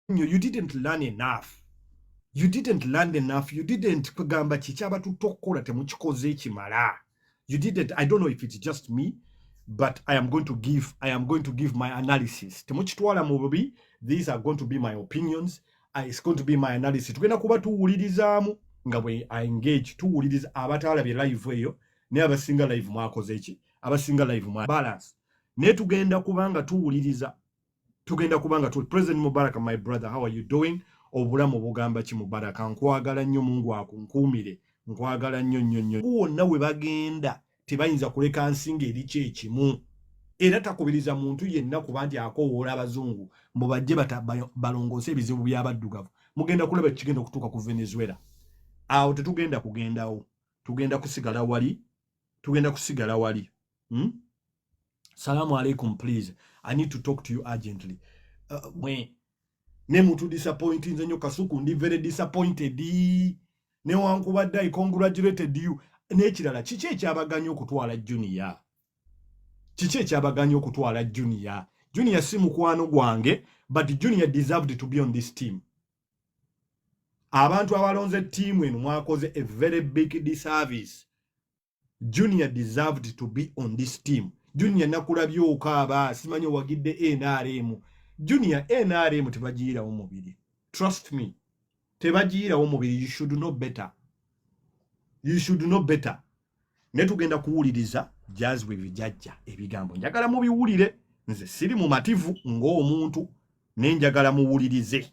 nnyo you didn't learn enough you didn't learn enough you didn't kugamba kikyabatutta okukola temukikoze ekimala you didn't i don't know if it's just me but i am going to give i am going to give my analysis temukitwala mu bubi these are going to be my opinions uh, it's going to be my analysis tugenda kuba tuwulirizaamu nga bwe engage tuwuliriza abataalabye live eyo naye abasinga live mwakoze ki abasinga live mwa balance naye tugenda kubanga tuwuliriza tugenda kubanga tu president mubarak my brother how are you doing obulamu bugamba ki mubarak nkwagala nnyo mungu akunkuumire nkwagala nnyo nnyo nnyo wonna we bagenda tebayinza kuleka nsinga eri kyekimu era takubiriza muntu yenna kuba nti akowoola abazungu mbu bajje balongoose ebizibu by'abaddugavu mugenda kulaba kigenda okutuuka ku venezuela awo tetugenda kugendawo tugenda kusigala wali tugenda kusigala wali hmm? salamu alaikum please i need to talk to you urgently uh, mwe ne mutu disappoint nze nyo kasuku ndi very disappointed ne wankubadde i congratulated you n'ekirala kiki ekyabaganya okutwala junior kiki ekyabaganya okutwala junior junior si mukwano gwange but junior deserved to be on this team abantu abalonze tiimu eno mwakoze a very big disservice junior deserved to be on this team junior nakulabye okaaba simanyi owagidde nrm junior nrm tebagiyirawo mubiri trust me tebagiyirawo mubiri you should know better you should know better ne tugenda kuwuliriza jazwe bijajja ebigambo njagala mubiwulire nze siri mumativu ng'omuntu nenjagala muwulirize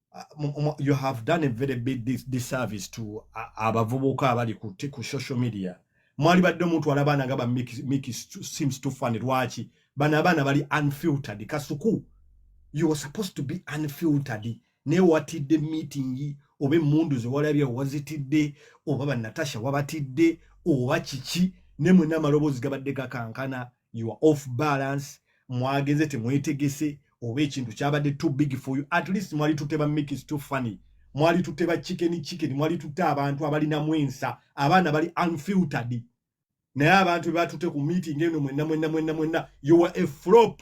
uh, you have done a very big dis disservice to uh, abavubuka abali ku, ku social media mwali badde omuntu ala baana nga ba miki seems to fun lwaki bano abaana bali unfiltered kasuku you were supposed to be unfiltered naye watidde meeting oba emundu zewalabye wazitidde oba banatasha wabatidde oba kiki nemwena amaloboozi gabadde gakankana you are off balance mwagenze temwetegese oba ekintu kyabadde too big for you at least mwali tutte ba mix too funny mwali tutte ba chicken chicken mwali tutte abantu abalina mwensa abaana bali unfiltered naye abantu bebatute ku meeting eno mwenna mwenna mwenna mwenna you were a flop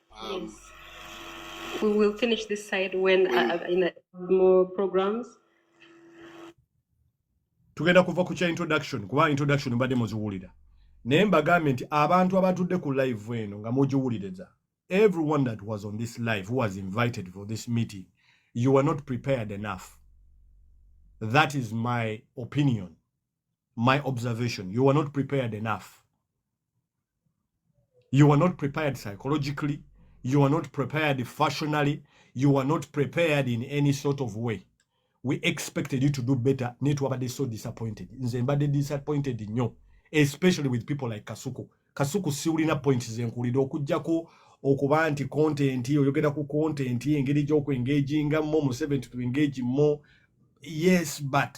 Um, we will finish this side when uh, uh, in a, more programs. Tugenda kuva ku kya introduction kuba introduction mbadde muziwulira naye mbagambye nti abantu abatudde ku live eno nga mugiwuliriza everyone that was on this live who was invited for this meeting you are not prepared enough that is my opinion my observation you were not prepared enough you were not prepared psychologically you were not prepared fashionally you were not prepared in any sort of way we expected you to do better naye twabadde so disappointed nze mbadde disappointed nnyo especially with people like kasuku kasuku siwulina point zenkuwulira okugyako okuba nti content oyogera ku content engeri gyokwengaginga mo museveni to engage mo yes but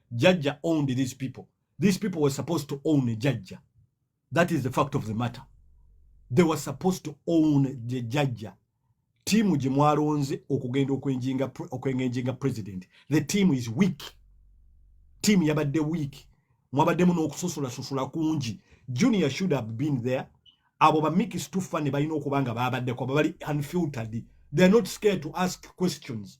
Jajja owned these people. These people were supposed to own Jajja. That is the fact of the matter. They were supposed to own the Jajja. Timu gye mwalonze okugenda okwengenjinga president. The team is weak. Team yabadde weak. Mwabaddemu n'okususulasusula kungi. Junior should have been there. Abo bamikisi tuffa ne balina okuba nga baabaddeko. Abo bali unfiltered. They are not scared to ask questions.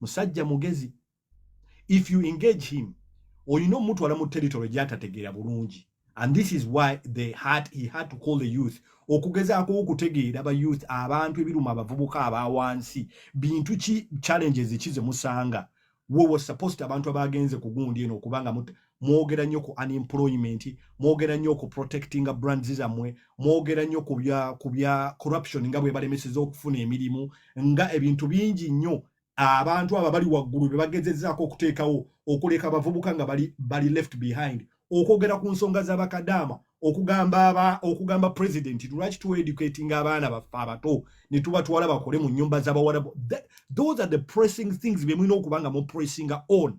musajja mugezi if you engage him olina omutwala mu territory gyatategeera bulungi and this is why they had, he had to call the youth okugezaako okutegeera ba youth abantu ebiruma abavubuka aba wansi bintu ki challenges ki zemusanga wowo supposed abantu abagenze kugundi eno okubanga mwogera nnyo ku unemployment mwogera nnyo ku protectinga brands zammwe mwogera nnyo ku bya corruption nga bwe balemeseza okufuna emirimu nga ebintu bingi nnyo abantu abo bali waggulu be bagezezaako okuteekawo okuleka abavubuka nga bali, bali left behind okwogera ku nsonga z'abakadaama okugamba aba okugamba president lwaki tu educating abaana baffe abato ne tubatwala bakole mu nnyumba z'abawarabu those are the pressing things bye mulina okuba nga mu pressinga on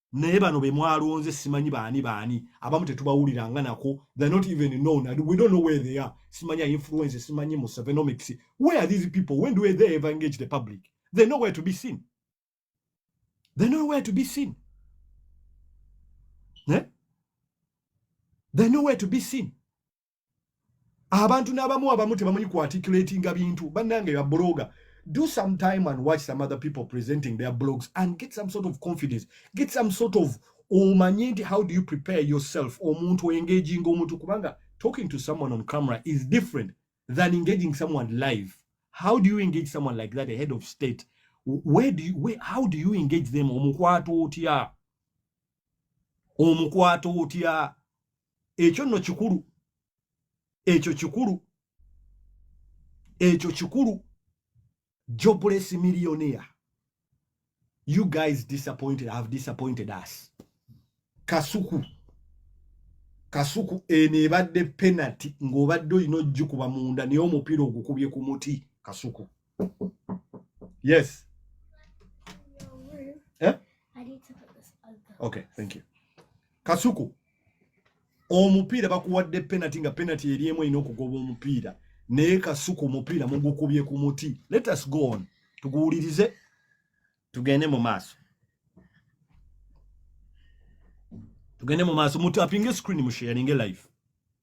naye bano be mwalonze simanyi baani baani abamu tetubawulira nga nako the not even known and we don't know where they are simanyi influence simanyi mu sevenomics where are these people when do they ever engage the public they know where to be seen they know where to be seen eh? they know where to be seen abantu n'abamu abamu tebamanyi ku articulatinga bintu bannange ya bloga do some time and watch some other people presenting their blogs and get some sort of confidence get some sort of omanye nti how do you prepare yourself omuntu engaginga omuntu kubanga talking to someone on camera is different than engaging someone live how do you engage someone like that a head of state where do you, where, how do you engage them omukwato otya omukwata otya ekyo nno kikulu ekyo kikulu ekyo kikulu jobless millionaire you guys disappointed have disappointed us kasuku kasuku eno ebadde penalty ng'obadde olina ojjukuba munda naye omupiira ogukubye ku muti kasuku Yes. Eh? Okay, thank you. Kasuku. Omupiira bakuwadde penalty nga penalty eri emu erina okugoba omupiira naye kasuku omupiira mugukubye ku muti let us go on tuguwulirize tugende mu maaso tugende mu maaso mutu apinge screen musheyaringe life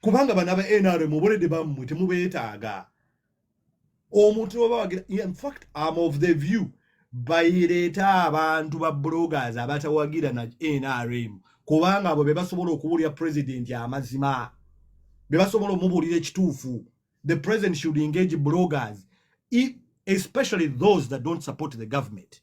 kubanga bana ba NRM obolede bamwe temubetaaga omuntu oba wagira in fact I'm of the view bayireeta abantu ba bloggers abatawagira na NRM kubanga abo be basobola okubuulira president amazima be basobola omubuulira ekituufu the president should engage bloggers e, especially those that don't support the government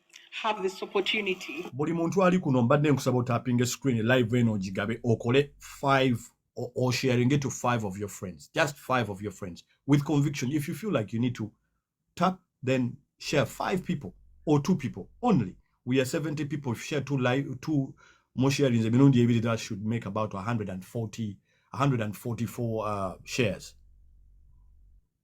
have this opportunity. Buli muntu ali kuno mbadde nkusaba otapinge screen live eno ogigabe okole 5 or, or sharing it to 5 of your friends. Just 5 of your friends with conviction. If you feel like you need to tap then share 5 people or 2 people only. We are 70 people if share two live two more sharings emirundi ebiri that should make about 140 144 uh, shares.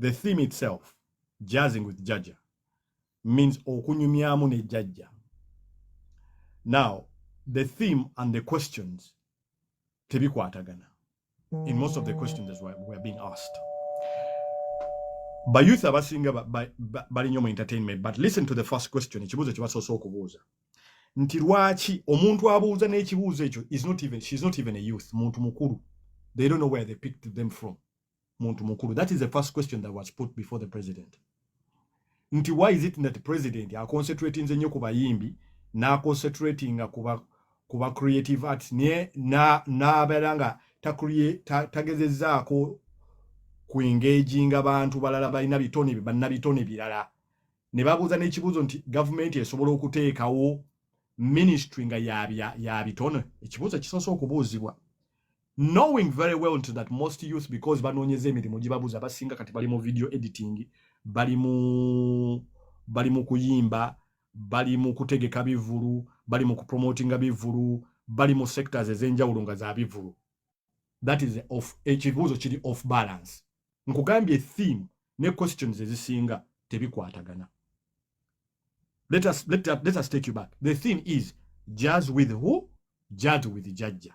the theme itself jazzing with jajja means okunyumyamu ne jajja now the theme and the questions tebikwatagana in most of the questions that were, were being asked ba youth abasinga bali nyo mu entertainment but listen to the first question ekibuuzo kyebasoose okubuuza nti lwaki omuntu abuuza n'ekibuuzo ekyo is not even, she's not even a youth muntu mukulu they don't know where they picked them from muntu mukulu that is the first question that was put before the president nti why is it that president aconcentratinze nnyo ku bayimbi n'aconcentratinga kuba kuba creative arts naye n'abeera nga tagezezaako ku engaginga bantu balala balina bitone banna bitone birala ne babuuza n'ekibuuzo nti gavumenti esobola okuteekawo ministry nga ya bitone ekibuuzo kisoose okubuuzibwa knowing very well nti that most youth because banoonyeza emirimu gibabuza basinga kati bali mu video editing bali mu bali mu kuyimba bali mu kutegeka bivulu bali mu kupromotinga bivulu bali mu sectors ez'enjawulo nga za bivulu that is of ekibuuzo kiri off balance nkugambye theme ne questions ezisinga tebikwatagana let us, let, let us take you back the theme is jazz with who jazz with jajja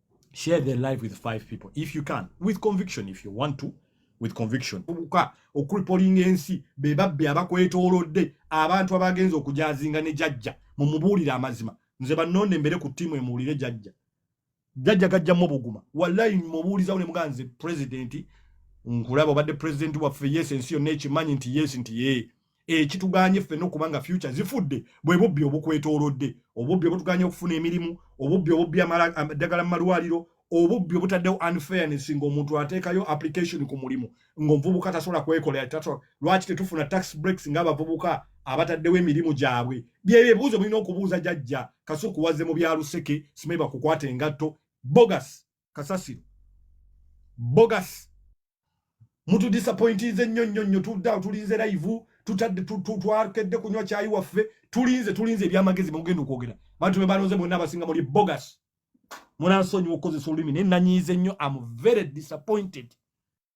share the life with five people if you can with conviction if you want to with conviction obuka okuripolinga ensi be babbi abakwetoolodde abantu abagenza okujazinga ne jajja mumubuulire amazima nze banonde mbere ku tiimu emuwulire jajja jajja gajjamu obuguma wallahi mubuulizawo ne muganze president nkulaba obadde president waffe yes ensi yonna ekimanyi nti yes nti yee ekituganye eh, ffena okuba nga future zifudde bwe bubbi obukwetoolodde obubbi obutuganye okufuna emirimu obubbi obubbi eddagala mu malwaliro obubbi obutaddewo unfairness ngaomuntu ateekayo application ku mulimu ngaomuvubuka tasobola kwekolera tasobola lwaki tetufuna tax breaks ngaabavubuka abataddewo emirimu gyabwe byebyo ebibuuzo mulina okubuuza jajja kasuku wazze mu byaluseke simeba kukwata engatto bogus kasasiro bogus mutu disappointinze nnyo nnyo nnyo tudde awo tulinze live tutadde twakedde kunywa kyayi waffe tulinze tulinze ebyamagezi mugenda okwogera bantu be balonze bonna abasinga muli bogus munansonyiwa okukozesa olulimi naye nanyiize nnyo am very disappointed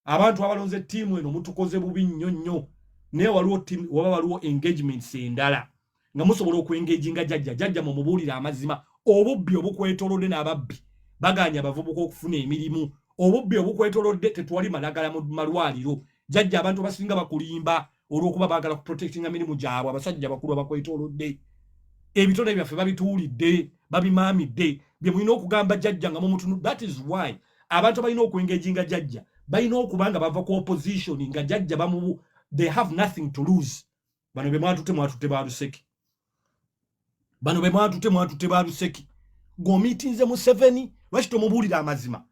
abantu abalonze ttiimu eno mutukoze bubi nnyo nnyo naye waliwo waba waliwo engagements endala nga musobola okuengejinga jajja jajja mumubuulire amazima obubbi obukwetolodde n'ababbi baganya abavubuka okufuna emirimu obubbi obukwetolodde tetwali malagala mu malwaliro jajja abantu abasinga bakulimba olwokuba bagala kuprotectinga mirimu gyabwe abasajja bakulu abakwetolodde ebitone byaffe babituulidde babimaamidde bye mulina okugamba jajja nga mumutunudde that is why abantu abalina okuengejinga jajja balina okuba nga bava ku opposition nga jajja bamubu they have nothing to lose bano be mwatute mwatute ba luseki bano be mwatute mwatute ba luseki gomitinze museveni lwaki tomubuulira amazima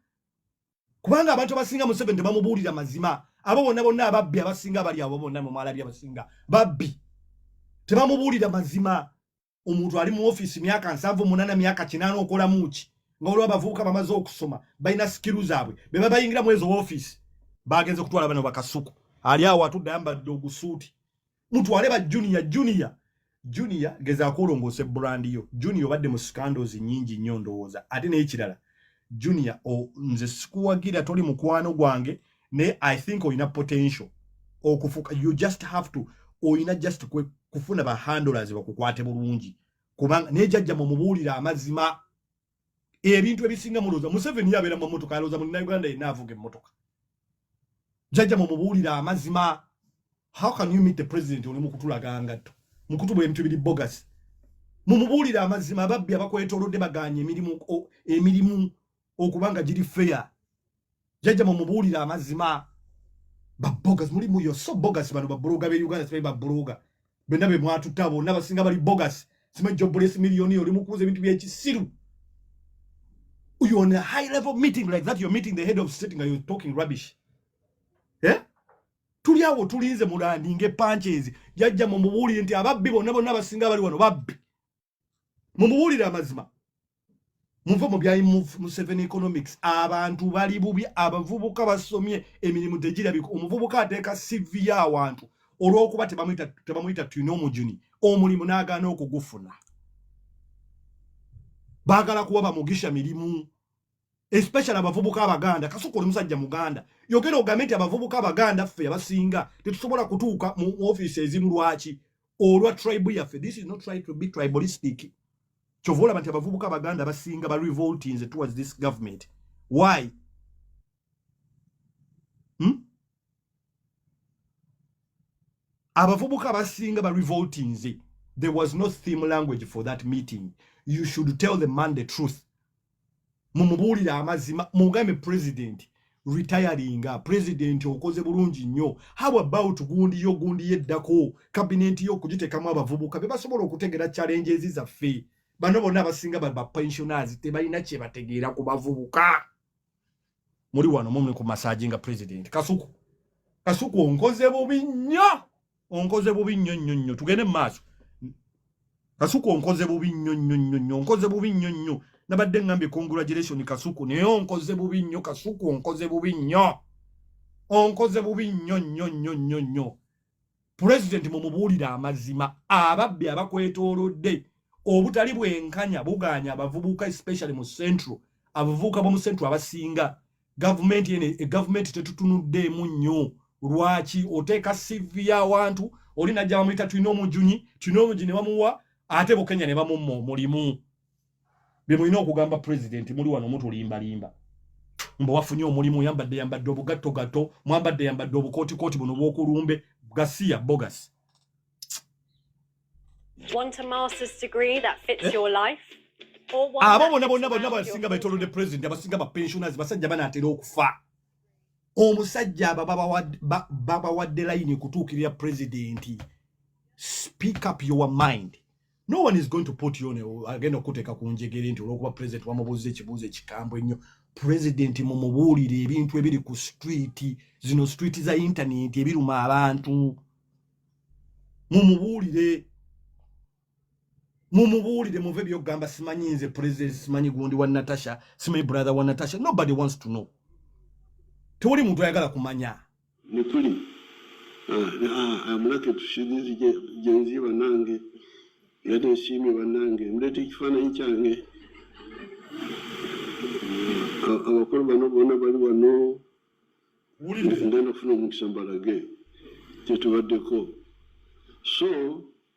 kubanga abantu abasinga museveni tebamubuulira mazima abo bonna bonna ababbi abasinga abali abo bonna mumwalabi abasinga babbi tebamubuulira mazima omuntu ali mu office myaka nsavu munana myaka kinana okola muki nga olwa bavuka bamaze okusoma baina skill zabwe beba bayingira mwezo office bagenze kutwala bano bakasuku ali awo atudde ayambadde ogusuuti mutwale ba junior junior junior geza kulongose brand yo junior badde mu scandals nyingi nyo ndowooza ate n'ekirala junior o nze sikuwagira toli mukwano gwange naye i think olina potential okufuka you just have to olina just kwe kufuna ba handlers bakukwate bulungi kubanga naye jajja mumubuulira amazima ebintu ebisinga mulooza museveni yabeera mu motoka alooza mu uganda yenna avuga emmotoka jajja mumubuulira amazima how can you meet the president oli mukutulaga ngatto mukutubwa ebintu biri bogus mumubuulire amazima ababbi abakwetolodde baganye emirimu emirimu okubanga giri fair jajja mumubuulire amazima babogas muli muyo so bogas bano babuloga be uganda simanyi babuloga bena be mwatuta bonna basinga bali bogas simanyi jobules miliyoni oli mukuuza ebintu byekisiru you on a high level meeting like that you're meeting the head of state nga you're talking rubbish eh? tuli awo tulinze mulandinga epankyezi jajja mumubuulire nti ababbi bonna bonna basinga bali wano babbi mumubuulire amazima muve mu bya museven economics abantu bali bubi abavubuka basomye emirimu tegirabika omuvubuka ateeka sivi y'awantu olw'okuba tebamuyita tulina omujuni omulimu n'agaana okugufuna baagala kuba bamugisha mirimu especially abavubuka abaganda kasoko oli musajja muganda yogera ogambe nti abavubuka abaganda ffe abasinga tetusobola kutuuka mu ofiisi ezimu lwaki olwa tribe yaffe this is not try to be tribalistic kyova olaba nti abavubuka abaganda abasinga ba revoltinze towards this government why hmm? abavubuka abasinga ba revoltinze there was no theme language for that meeting you should tell the man the truth mumubuulire amazima mugambe president retiringa president okoze bulungi nnyo how about gundi yo gundi yeddako kabineti yo okugitekamu abavubuka bebasobola okutegera challenges zaffe bano bonna abasinga bapensioners tebalina kyebategeera ku bavubuka muli wano mumuli ku masaji nga president kasuku kasuku onkoze bubi nnyo onkoze bubi nnyo nnyo nnyo tugende mu maaso kasuku onkoze bubi nnyo nnyo nnyo nnyo onkoze bubi nnyo nnyo nabadde ngambye congratulation kasuku naye onkoze bubi nnyo kasuku onkoze bubi nnyo onkoze bubi nnyo nnyo nnyo nnyo nnyo pulezidenti mumubuulire amazima ababbi abakwetoolodde obutali bwenkanya bugaanya abavubuka especially mu central abavubuka bomu central abasinga gavumenti ene e gavumenti tetutunuddeemu nnyo lwaki oteeka sivi y'awantu oli najja bamuyita tulina omujunyi tulina omujunyi ne bamuwa ate bukenya ne bamumma omulimu bye mulina okugamba pulezidenti muli wano mutulimbalimba mbu wafunye omulimu yambadde yambadde obugattogatto mwambadde yambadde obukootikooti buno bwokulumbe gasiya bogas abo bona bonna bonna basinga betolodde pulezidenti abasinga bapensioners basajja banaatera okufa omusajja aba babawadde layini kutuukirira pulezidenti speak up your mind no one is going to put you on agenda okuteeka ku njegere nti olwokuba president wamubuuza ekibuuzo ekikambwe ennyo president mumubuulire ebintu ebiri ku street zino street za internet ebiruma abantu mumubuulire mumubuulire muve byokugamba simanyi nze president simanyi gundi wa natasha simanyi brother wa natasha nobody wants to know tewali muntu ayagala kumanya Nikuli amulake tushirizi jenzi banange yade nsiimye banange muleeta ekifaananyi kyange abakulu bano bona bali wano ngenda kufuna omukisa mbalage kyetubaddeko so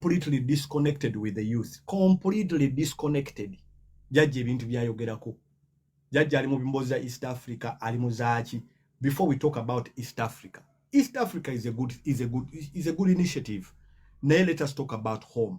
completely disconnected with the youth completely disconnected jajja ebintu byayogerako jajja ali mu bimbozi za east africa ali mu zaaki before we talk about east africa east africa is a good, is a good, is a good initiative naye let us talk about home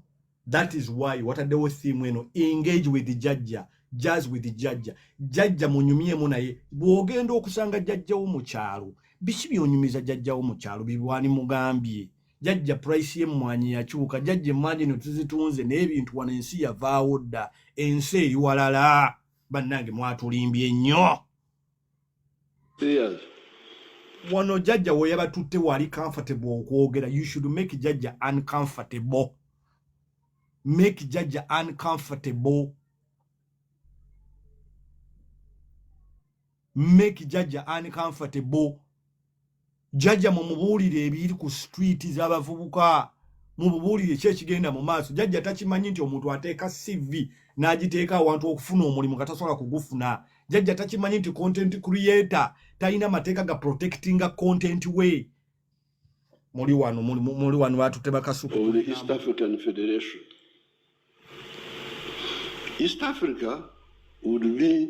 that is why wataddewo theme eno engage with the jajja jazz with the jajja jajja munyumyemu naye bwogenda okusanga jajjawo mu kyalo biki byonyumiza jajjawo mu kyalo bibwani mugambye jajja price y'emmwanyi yakyuka jajja emmwanyi no tuzitunze naye ebintu wano ensi yavaawo dda ensi eri walala bannange mwatulimbye nnyo wano jajja weyabatutte wali comfortable okwogera you should make jajja uncomfortable make jajja uncomfortable make jajja uncomfortable jajja mumubuulire ebiri ku street z'abavubuka mububuulire ki ekigenda mu maaso jajja takimanyi nti omuntu ateeka cv n'agiteeka awantu okufuna omulimu nga tasobola kugufuna jajja takimanyi nti content creator talina mateeka ga protectinga content we muli wano muli wano batute bakasuka east african federation east africa would be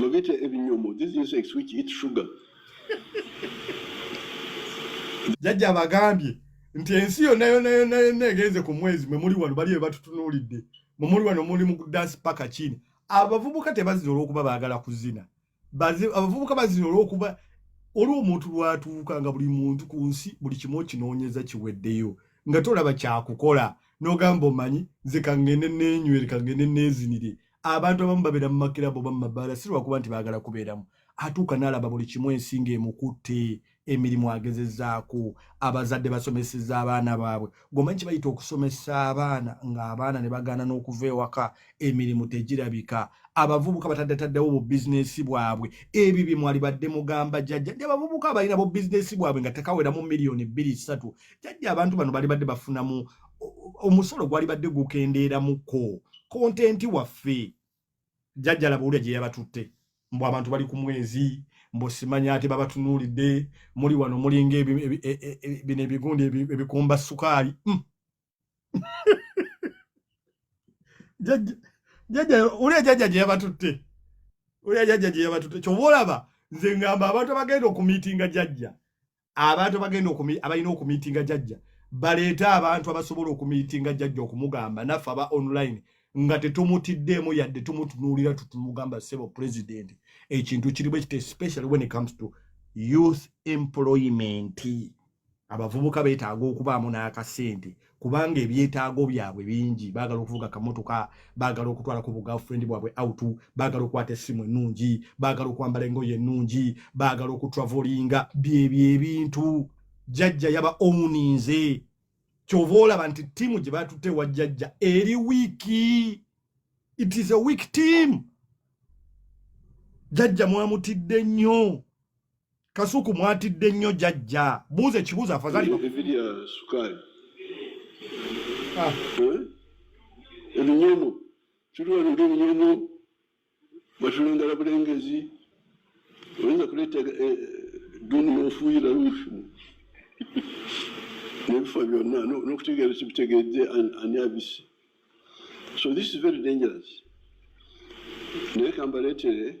Babiyita ebinyomo. These insects which eat sugar. Jajja abagambye nti ensi yonna yonna yonna yonna egenze ku mwezi mwe muli wano bali be batutunuulidde mwe muli wano muli mu kudansi paka kini abavubuka tebazina olw'okuba baagala kuzina abavubuka bazina olw'okuba oli omuntu lwatuuka nga buli muntu ku nsi buli kimu okinoonyeza kiweddeyo nga tolaba kyakukola n'ogamba omanyi nze kangende neenywere kangende neezinire abantu abamu babeera mu makirabu oba mu mabbaala si lwakuba nti baagala kubeeramu atuuka n'alaba buli kimu ensi ng'emukutte emirimu agezezaako abazadde basomeseza abaana baabwe gomanyi kibayita okusomesa abaana ng'abaana ne bagaana n'okuva ewaka emirimu tegirabika abavubuka bataddataddewo bu bizinesi bwabwe ebyo bye mwali badde mugamba jajja nti abavubuka balina bu bizinesi bwabwe nga tekaweramu miliyoni bbiri ssatu jajja abantu bano bali badde bafunamu omusolo gwalibadde gukendeeramuko kontenti waffe jajjala bawulira gye yabatutte mbu abantu bali ku mwezi mbu simanya ate babatunuulidde muli wano mulinga e, e, e, bino ebigundi ebikumba sukaali hmm. jajja uli ejajja gye yabatutte uli ejajja gye yabatutte kyoba olaba nze ngamba abantu abagenda okumiitinga jajja abantu abagenda abalina okumiitinga jajja baleete abantu abasobola okumiitinga jajja okumugamba naffe aba online nga tetumutiddeemu yadde tumutunuulira tutumugamba sebo president ekintu kirimu ekite especially when it comes to youth employment abavubuka betaaga okubaamu n'akasente kubanga ebyetaago byabwe bingi baagala okuvuga kamotoka baagala okutwala ku bugafrendi bwabwe out baagala okukwata essimu ennungi baagala okwambala engoye ennungi baagala okutravolinga byebyo ebintu jajja yaba omuninze kyova olaba nti tiimu gye batutte wa jajja eri wiiki it is a weak team jajja mwamutidde nnyo Kasuku mwatidde nnyo jajja. Buuza ekibuuzo afadhali ba. Evidya sukali. Ah. Eh? Ebinyomo. Tuliwa nge ebinyomo. Batulengala bulengezi. Oyinza kuleta eh, duni ofuyira lufu. Nebifa byonna n'okutegeera kibitegedde ani abisi. So this is very dangerous. Naye kambaleetere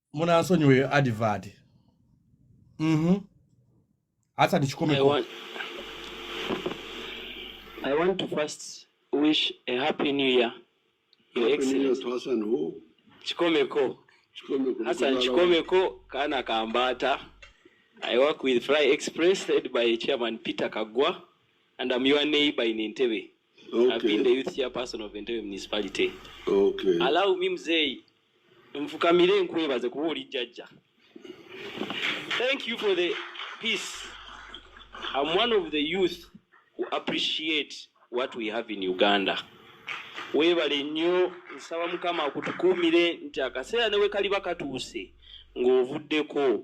munansonyiwa eyo advert mhm asa ndikikomeko I want to first wish a happy new year your excellency kikomeko Hassan Chikomeko Kana Kambata. I work with Fly Express led by Chairman Peter Kagwa and I'm your neighbor in Entebbe. Okay. I've been the youth chairperson of Entebbe Municipality. Okay. Allow me mzee nfukamire nkwebaze kuba oli jjajja thank you for the peace am one of the youth who appreciate what we have in uganda weebale nnyo nsaba mukama akutukuumire nti akaseera newe kaliba katuuse ng'ovuddeko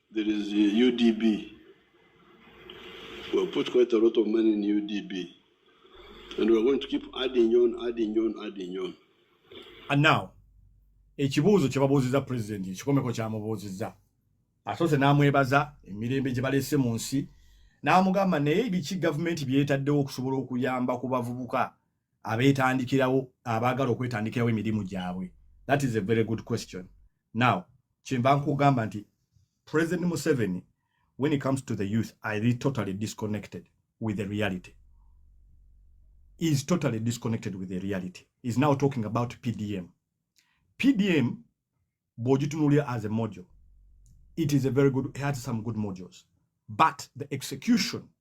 There is UDB. We have put quite a lot of money in UDB. And we are going to keep adding on, adding on, adding on. And now, ekibuuzo kye babuuzizza pulezidenti ekikomeko kyamubuuzizza asoose n'amwebaza emirembe gye baleese mu nsi n'amugamba naye biki gavumenti byetaddewo okusobola okuyamba ku bavubuka abeetandikirawo abaagala okwetandikirawo emirimu gyabwe that is a very good question now kyemba nkugamba nti president museveni when it comes to the youth i re totally disconnected with the reality is totally disconnected with the reality is now talking about pdm pdm bwogitunulira as a module it is a very good it had some good modules but the execution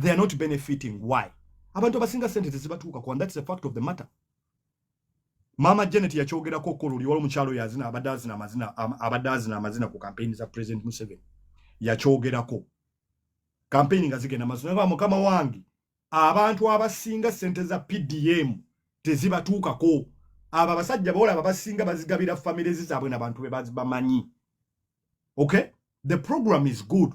they are not benefiting why abantu abasinga sente tezibatuuka kwa that's the fact of the matter maama janet yakyogerako okukola oli wali omukyalo yazina abadde azina amazina abadde azina amazina ku kampeyini za president museveni yakyogerako kampeyini nga zigenda mazina ba mukama wange abantu abasinga sente za pdm tezibatuukako abo abasajja bawola abo abasinga bazigabira famire zizaabwe nabantu be bamanyi okay the program is good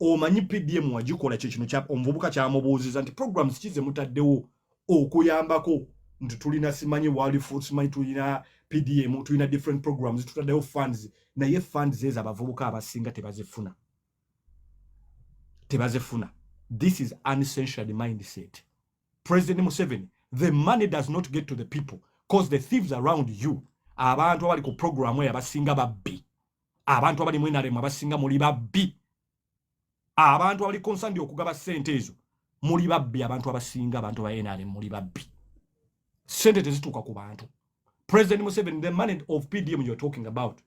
omanyi pdm wagikola kye kino omuvubuka kyamubuuziza nti programs kize mutaddewo okuyambako nti tulina simanyi walifu simanyi tulina pdm tulina different programs tutaddewo funds naye funds ezo abavubuka abasinga tebazifuna tebazifuna this is uncensured mindset president museveni the money does not get to the people cause the thieves around you abantu abali ku programu eyo abasinga babbi abantu abali mu nrm abasinga muli babbi abantu abali konsandi okugaba sente ezo muli babbi abantu abasinga abantu ba nrm muli babbi sente tezituuka ku bantu president museveni the money of pdm you're talking about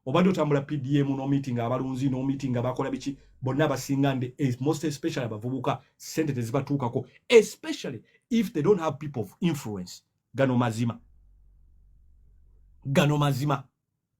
obadde otambula pdm nomeeting abalunzi nomeeting abakola biki bonna abasinga ndi eh, most especially abavubuka sente tezibatuukako especially if they don't have people of influence gano mazima gano mazima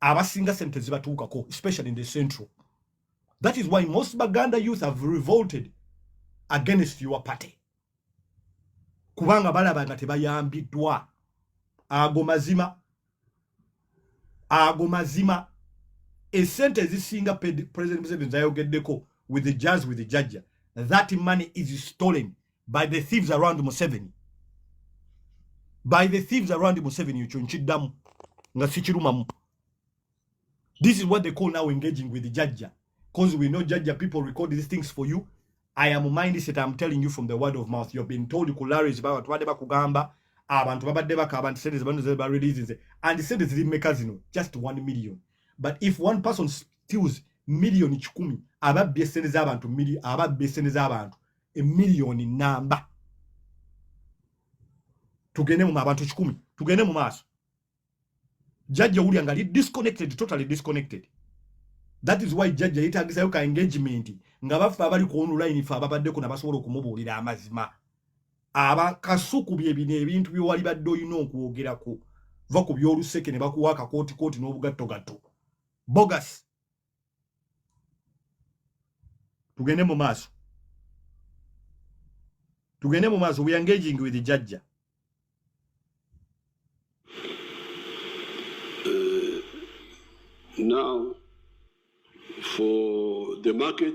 abasinga sente zibatuukako especially in the central that is why most baganda youth have revolted against your party kubanga balaba nga tebayambiddwa ago mazima ago mazima esente ezisinga president museveni zayogeddeko with the jazz with the jajja that money is stolen by the thieves around Museveni by the thieves around Museveni ekyo nkiddamu nga sikirumamu this is what they call now engaging with the jajja because we know jajja people record these things for you I am mindset I'm telling you from the word of mouth you've been told kularis baba tubadde bakugamba abantu babadde bakaba nti sente zebano zeba releases and sente ziri mmeka zino just 1 million but if one person steals million kikumi ababbye sente z'abantu ababbye sente z'abantu emiliyoni namba tugende mu abantu kikumi tugende mu maaso jajja owulira nga li disconnected totally disconnected that is why jajja yetagisayo ka engagement nga baffe abali ku online fe ababaddeko nabasobola okumubuulira amazima aba kasuku byebino ebintu byewali badde olina okwogerako va ku byoluseke ne bakuwa akakootikooti n'obugattogatto bogus tugende mu maaso tugende mu maaso we engaging with jajja uh, now for the market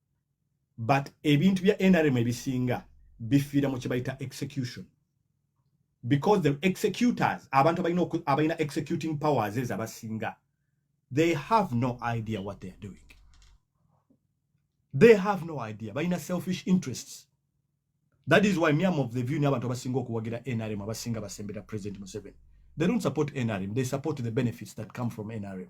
but ebintu bya nrm ebisinga bifiira mu kyebayita execution because the executors abantu abalina abalina executing powers ezo abasinga they have no idea what they are doing they have no idea balina selfish interests that is why miam of the view ni abantu abasinga okuwagira nrm abasinga basembera president museveni they don't support nrm they support the benefits that come from nrm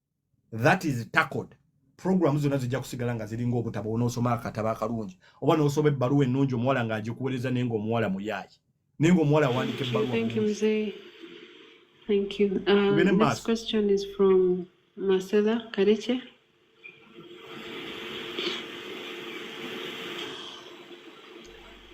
that is tackled program zona zijja kusigala nga ziringa obutabo onosoma akataba akalungi oba nosoma ebbaluwa ennungi omuwala nga agikuwereza naye nga omuwala muyaayi naye nga omuwala awandika ebbaluwa Thank you. Um, this mask. question is from Marcela Kareche.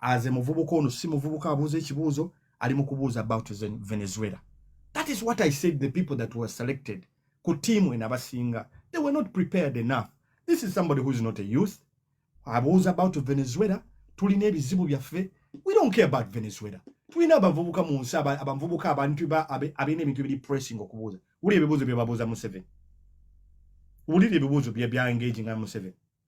as a muvubuka ono si muvubuka abuuza ekibuuzo ali mu kubuuza about venezuela that is what i said the people that were selected ku tiimu eno abasinga they were not prepared enough this is somebody who is not a youth abuuza about venezuela tulina ebizibu byaffe we don't care about venezuela tulina abavubuka mu nsi abavubuka abantu abalina ebintu ebiri pressing okubuuza wulira ebibuuzo bye babuuza museveni wulira ebibuuzo bye bya engaging nga museveni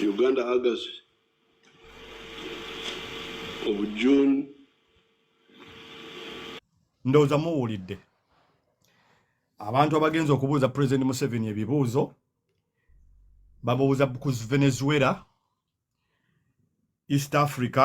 Uganda Hagers of June ndowooza muwulidde abantu abagenza okubuuza president museveni ebibuuzo bamubuuza ku venezuela east africa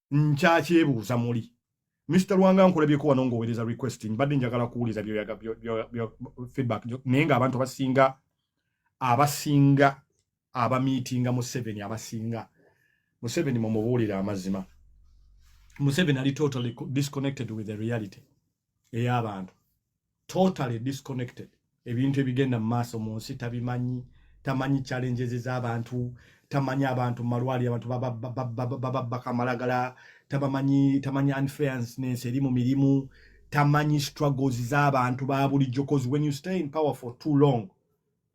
nkyakyebuuza muli Mr. Lwanga nkulabyeko wano ng'owereza request mbadde njagala kuwuliza byoyaga feedback naye nga abantu abasinga abasinga abamiitinga Museveni abasinga Museveni mumubuulire amazima Museveni ali totally disconnected with the reality ey'abantu totally disconnected ebintu ebigenda mu maaso mu nsi tabimanyi tamanyi challenges z'abantu tamanyi abantu mu malwaliro abantu bababbaka amalagala tabamanyi tamanyi unfairness eri mu mirimu tamanyi struggles z'abantu ba bulijjo cause when you stay in power for too long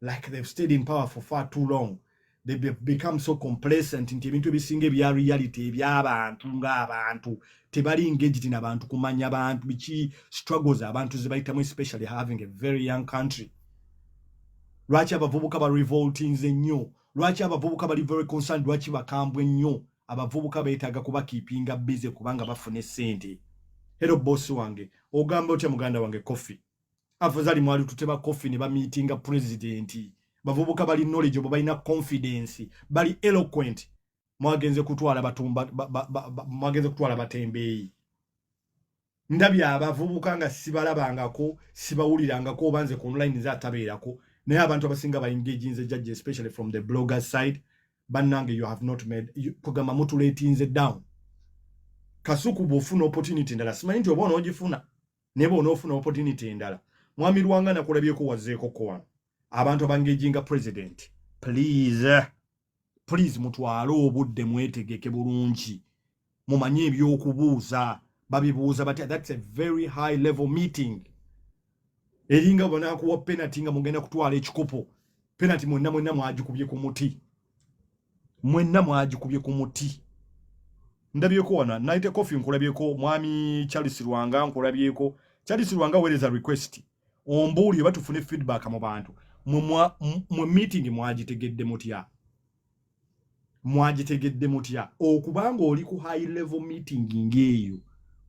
like they've stayed in power for far too long they become so complacent nti ebintu ebisinga ebya reality ebyabantu ngaabantu tebali engaged nabantu kumanya bantu biki struggles abantu zebayitamu especially having a very young country lwaki abavubuka ba revoltings ennyo lwaki abavubuka bali very concerned lwaki bakambwe nnyo abavubuka beetaaga kuba kiipinga busy kubanga bafuna esente hero boss wange ogamba otya muganda wange coffee afuzali mwali tuteba coffee ne bamitinga president bavubuka bali knowledge obo balina confidence bali eloquent mwagenze kutwala batumba ba, ba, ba, ba, mwagenze kutwala batembeeyi ndabye abavubuka nga sibalabangako sibawulirangako oba nze ku online nze atabeerako naye abantu abasinga baengaginze judge especially from the blogger side bannange you have not made kugamba mutuletinze down kasuku bwofuna opportunity ndala simanyi nti oba onoogifuna naye bwonaofuna opportunity endala mwami lwanga nakulabyeko wazeeko kowan abantu abangejinga president please please mutwale obudde mwetegeke bulungi mumanye ebyokubuuza babibuuza batya thats a very high level meeting eringa banakuwa penati nga mugenda kutwala ekikopo penati mwena mwena mwagikubye ku muti mwenna mwagikubye ku muti ndabyeko wana naite coffee nkulabyeko mwami charles rwanga nkulabyeko charles rwanga wereza request ombuulire oba tufune feedback mu bantu mwe meeting mwagitegedde mutya mwagitegedde mutya okuba ng'oli ku high level meeting ng'eyo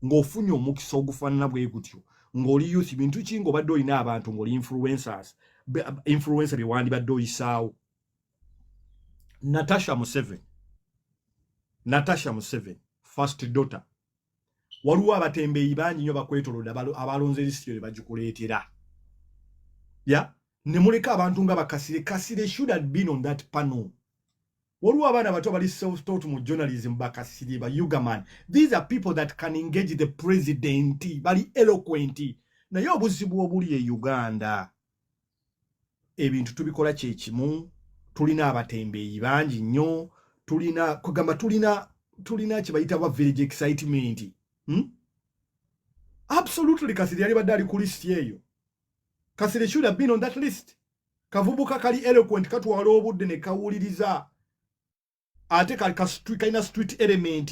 ng'ofunye omukisa ogufaanana bwe gutyo ng'oli youth bintu ki ng'obadde olina abantu ng'oli influencers influencer bye wandibadde oyisaawo Natasha Museveni, Natasha Museveni, first daughter, waliwo abatembeeyi bangi nyo bakwetoloda abalonze lisiti yo nebagikuleetera ya yeah? nemuleka abantu nga bakasire kasire should have been on that panel waliwo abaana bato bali self taught mu journalism bakasire ba ugaman these are people that can engage the president bali eloquent naye obuzibu obuli e uganda ebintu tubikola kyekimu tulina abatembeeyi bangi nnyo tulina kugamba tulina tulina kyebayita ba village excitement hmm? absolutely kasiri yali badde ali ku list eyo kasiri should have been on that list kavubuka kali eloquent katwala obudde ne kawuliriza ate kalina street element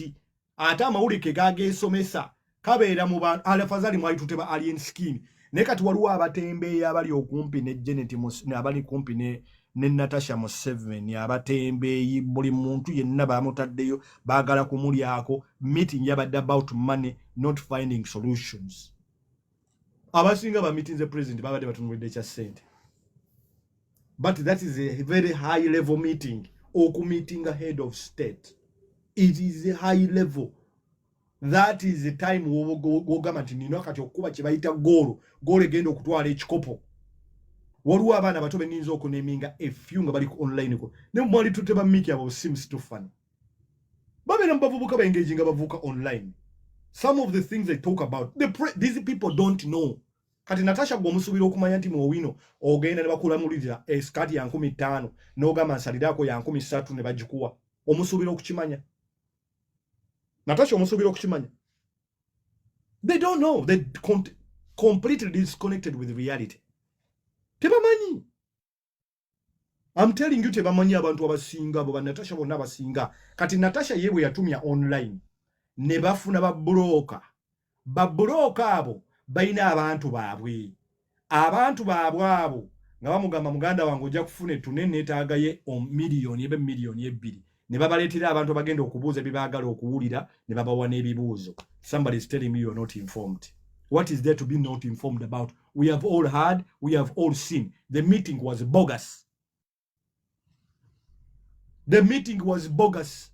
ate amawulire ke gageesomesa kabeera mu bantu alafazali mwalitute ba alien skin naye kati waliwo abatembeeyi abali okumpi ne janet abali kumpi ne ne natasha museveni abatembeeyi buli muntu yenna bamutaddeyo baagala kumulyako meeting yabadde about money not finding solutions abasinga bamitinze president babadde batunulidde kya sente but that is a very high level meeting okumeeting a head of state it is a high level that is the time wogamba nti nina kati okukuba kyebayita goolo goolo egenda okutwala ekikopo waliwo abaana bato beninza okuneminga efyu nga bali ku online ko ne mwali tute bamiki abo simu situfani babeera mubavubuka baengage nga bavubuka online some of the things they talk about the pre these people don't know kati natasha gwe omusuubira okumanya nti muowino ogenda ne bakulamulirira esikaati ya nkumi ttaano n'ogamba nsaliraako ya nkumi ssatu ne bagikuwa omusuubira okukimanya natasha omusuubira okukimanya they don't know they completely disconnected with reality tebamanyi I'm telling you tebamanyi abantu abasinga abo banatasha bonna abasinga kati natasha ye bwe yatumya online ne bafuna babuloka babuloka abo balina abantu baabwe abantu baabwe abo nga bamugamba muganda wange ojja kufuna ettune neetaagaye omiliyoni ebe miliyoni ebbiri ne babaleetera abantu abagenda okubuuza bye baagala okuwulira ne babawa n'ebibuuzo somebody is telling me you are not informed what is there to be not informed about we have all heard we have all seen the meeting was bogus the meeting was bogus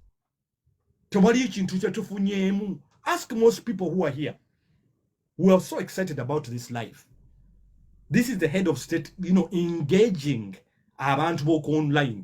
tewali ekintu kyetufunyeemu ask most people who are here who are so excited about this life this is the head of state you know engaging abantu boku online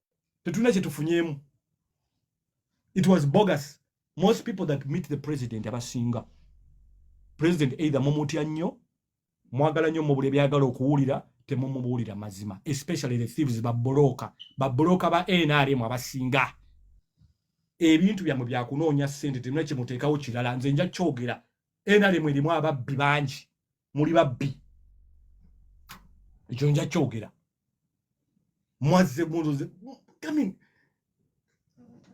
tetulina kyetufunyemu it was bogus most people that meet the president abasinga president either mumutya nnyo mwagala nnyo mubula ebyagala okuwulira temumubuulira mazima especially the thieves babuloka babuloka ba nrm abasinga ebintu byamwe byakunoonya sente temuna kyemuteekawo kirala nze nja kyogera nrm erimu ababbi bangi muli babbi ekyo nja kyogera mwazze muloze i mean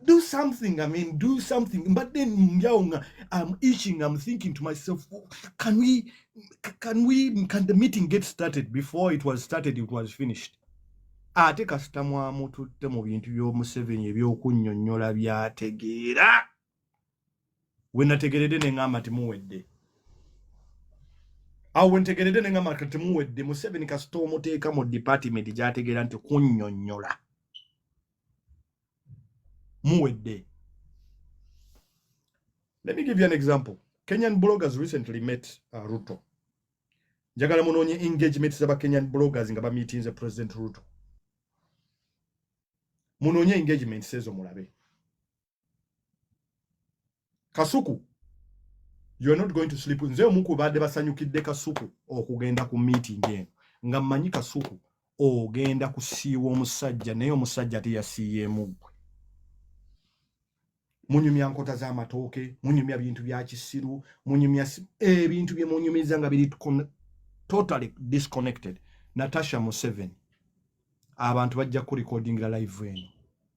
do something i mean do something but then njawo nga i'm itching i'm thinking to myself oh, can we can we can the meeting get started before it was started it was finished ate kasita mwamututte mu bintu by'omuseveni ebyokunnyonnyola byategeera wenategerede nengamba nti muwedde awo wentegerede nengamba nti temuwedde museveni kasita omuteeka mu department gyategeera nti kunyonyola muwedde let me give you an example kenyan bloggers recently met uh, ruto njagala munoonye engagement zaba kenyan bloggers nga bamitinze president ruto munoonye engagement sezo mulabe kasuku you're not going to sleep nze omu ku baadde basanyukidde kasuku okugenda ku meeting eno nga mmanyi kasuku ogenda kusiiwa omusajja naye omusajja teyasiiyeemu gwe munyumya nkota z'amatooke munyumya bintu bya kisiru munyumya ebintu eh, bye munyumiza nga biri totally disconnected natasha museven abantu bajja kurekodingira live eno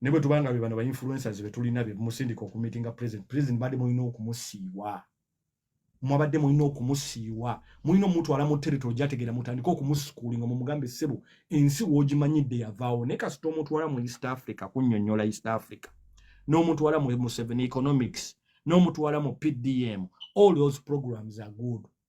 ne bwe tuba nga be bano ba influencers be tulina be musindika okumitinga president president badde mulina okumusiiwa mwabadde mulina okumusiiwa mulina omutwala mu territory gyategeera mutandika okumusukuulinga mumugambe ssebo ensi woogimanyidde yavaawo naye kasita omutwala mu east africa kunyonyola east africa n'omutwala mu seven economics n'omutwala mu pdm all those programs are good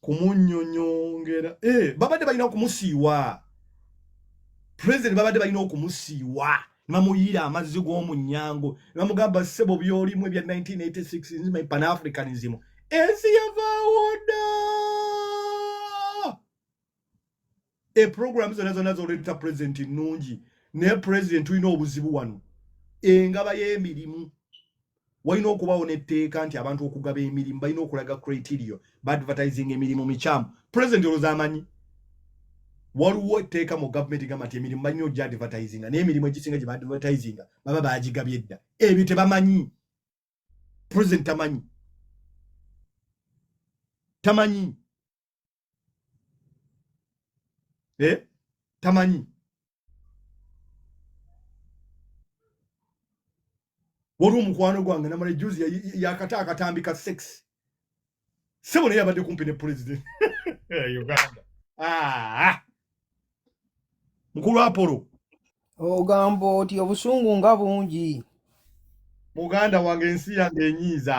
kumunyonyongera eh, babadde balina okumusiiwa president babadde balina okumusiiwa nebamuyiira amazzi g'omunyango nebamugamba sebo byolimu ebya 1986 nzima pan africanism ensi yavaawo ddaa e program zona zona zoleeta president nnungi naye president tulina obuzibu wano engaba y'emirimu walina okubawo n'etteeka nti abantu okugaba emirimu balina okulaga criteria baadvertising emirimu mikyamu president olwoza amanyi waliwo etteeka mu gavumenti gamba nti emirimu balina ogya advertisinga naye emirimu egisinga gye baadvertisinga baba baagigabye dda ebyo tebamanyi president tamanyi tamanyi eh? tamanyi waliwo omukwano gwange namala ejuzi yakata akatambi ka sex sebo naye abadde kumpi ne pulezidenti eh, uganda ah! mukulu apolo ogamba oti obusungu nga bungi muganda wange ensi yange enyiiza